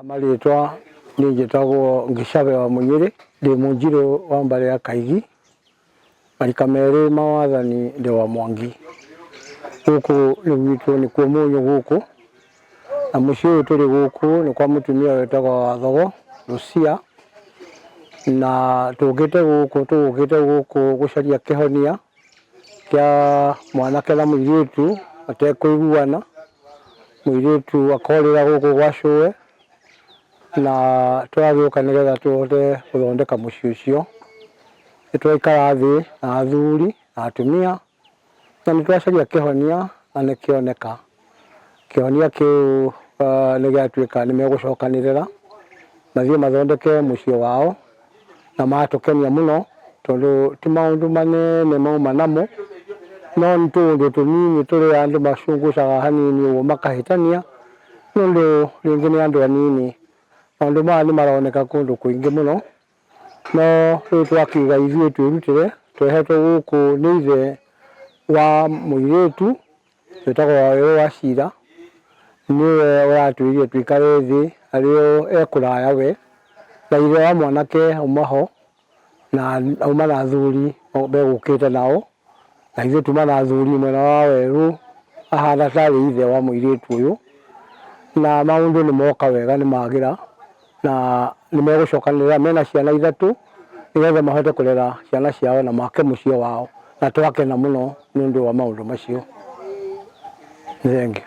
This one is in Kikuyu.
Amarĩtwa nĩ njĩtagwo Ngĩcabe wa Mũnyĩrĩ, ndĩ mũnjirũ wa mbarĩ ya Kaigi, marika merĩ ma wathani ndĩ wa Mwangi. Gũkũ nĩ gwitũ nĩ kuo mũnyũ gũkũ, na mũciĩ ũyũ tũrĩ gũkũ nĩ kwa mũtumia wĩtagwo Wathogo Rũcia, na tũkĩte gũkũ tũgũkĩte gũkũ gũcaria kĩhonia kĩa mwanake na mũirĩtu matekũiguana, mũirĩtu akorĩra gũkũ gwa cũe, na tũragĩũka nĩgetha tũhote gũthondeka mũciĩ ũcio. Nĩ twaikara thĩ na athuri na atumia na nĩ twacaria kĩhonia na nĩ kĩoneka. Kĩhonia kĩu nĩ gĩatuĩka nĩ megũcokanĩrĩra mathiĩ mathondeke mũciĩ wao na matũkenia mũno tondũ ti maũndũ manene mauma namo no nĩ tũũndũ tũnini tũrĩa andũ macungucaga hanini ũguo makahĩtania nĩ ũndũ rĩngĩ nĩ andũ anini. Maũndũ maya nĩ maroneka kũndũ kũingĩ mũno no rĩu twakiuga ithuĩ twĩrutĩre twehetwo gũkũ nĩ ithe wa mũirĩtu Wĩtagwo Wawerũ Wachira, nĩwe ũratwĩrire tũikare thĩ arĩ o e kũraya we na ithe wa mwanake auma ho na auma na athuri megũkĩte nao, na ithuĩ tuma na athuri mwena wa Wawerũ, ahana tarĩ ithe wa mũirĩtu ũyũ, na maũndũ nĩmoka wega nĩmagĩra. na nĩ megũcokanĩrĩra mena ciana ithatũ nĩgetha mahote kũrera ciana ciao na make mũciĩ wao na twakena mũno nĩ ũndũ wa maũndũ macio. Nĩ thengiũ.